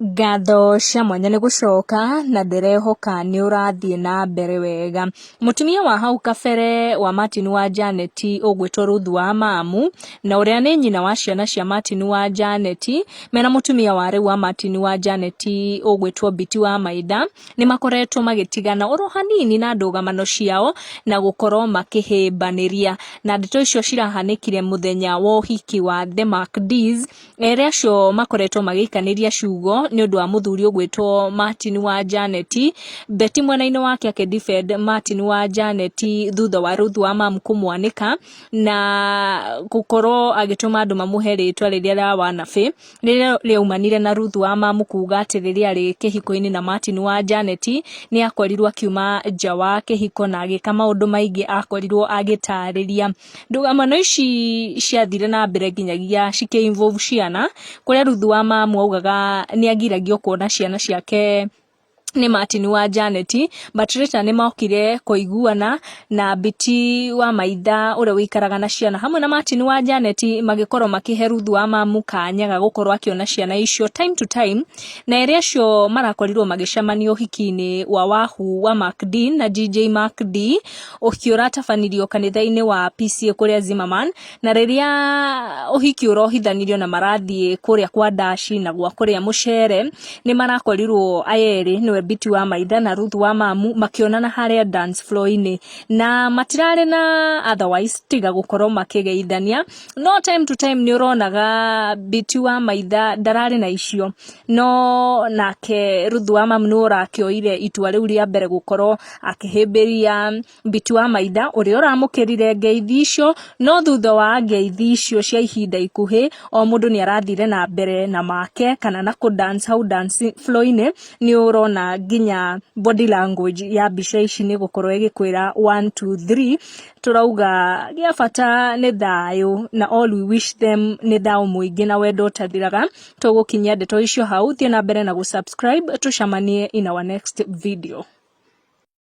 Ngatho cia mwanya nĩ gũcoka na ndĩrehoka nĩ ũrathiĩ na mbere wega. Mũtumia wa hau kabere wa Martin wa Janet ũgwĩtwo Ruth wa Mamu na ũrĩa nĩ nyina wa ciana cia Martin wa Janet mena mũtumia wa rĩu wa Martin wa Janet ũgwĩtwo Biti wa Maitha nĩ makoretwo magĩtigana oro hanini na ndũgamano ciao na gũkorwo makĩhĩmbanĩria. Na ndeto icio cirahanĩkire mũthenya wa ũhiki wa The Macdies. Erĩ acio makoretwo magĩikanĩria ciugo nĩ ũndũ wa mũthuri ũgwĩtwo Martin wa Janeti. Beti mwena-inĩ wake akĩdefend Martin wa Janeti thutha wa Ruth wa Mamu kũmwanĩka na gũkorwo agĩtũma andũ mamũhe rĩtwa rĩrĩa rĩa wanabĩ rĩrĩa rĩaumanire na Ruth wa Mamu kuga atĩ rĩrĩa arĩ kĩhiko-inĩ na Martin wa Janeti nĩ akorirwo akiuma nja wa kĩhiko na agĩka maũndũ maingĩ akorirwo agĩtarĩria. Ndũgano ici ciathire na mbere nginyagia cikĩ involve ciana, kũrĩa rĩu thutha wa mamu augaga nĩ agiragio kuona ciana ciake nĩ Martin wa Janet, but later nĩ mokire kũiguana na Biti wa maitha ũrĩa ũikaraga na ciana hamwe na Martin wa Janet magĩkorwo makĩhe Ruthu wa mamu kanya ga gũkorwo akĩona ciana icio time to time, na erĩ acio marakorirwo magĩcemania ũhiki-inĩ wa Wahu wa Mark Dee na JJ Mark Dee. Ũhiki ũratabanirio kanitha-inĩ wa PCA kũrĩa Zimmerman, na rĩrĩa ũhiki ũrohithanirio na marathiĩ kũrĩa kwa Ndaci na gwa kũrĩa Mũcere, nĩ marakorirwo aya erĩ nĩwe Biti wa Maitha na Ruth wa Mamu makĩonana harĩa dance floor-inĩ. Na matirarĩ na otherwise tiga gũkorwo makĩgeithania. No time to time nĩ ũronaga Biti wa Maitha ndararĩ na icio, no nake Ruth wa Mamu nĩwe ũrakĩoire itua rĩu rĩa mbere gũkorwo Akĩhĩmbĩria Mbiti wa Maitha ũrĩa ũramũkĩrire ngeithi icio, no thutha wa ngeithi icio cia ihinda ikuhĩ, o mũndũ nĩ arathire na mbere na make kana na kũ dance hau dance floor-inĩ, nĩ ũrona nginya body language ya mbica ici nĩ ĩgũkorwo ĩgĩkwĩra one, two, three. Tũrauga gĩa bata nĩ thayũ na all we wish them nĩ thayũ mũingĩ na wendo ũtathiraga. tũgũkinyia ndeto icio hau thiĩ na mbere na gũ subscribe tũcemanie in our next video.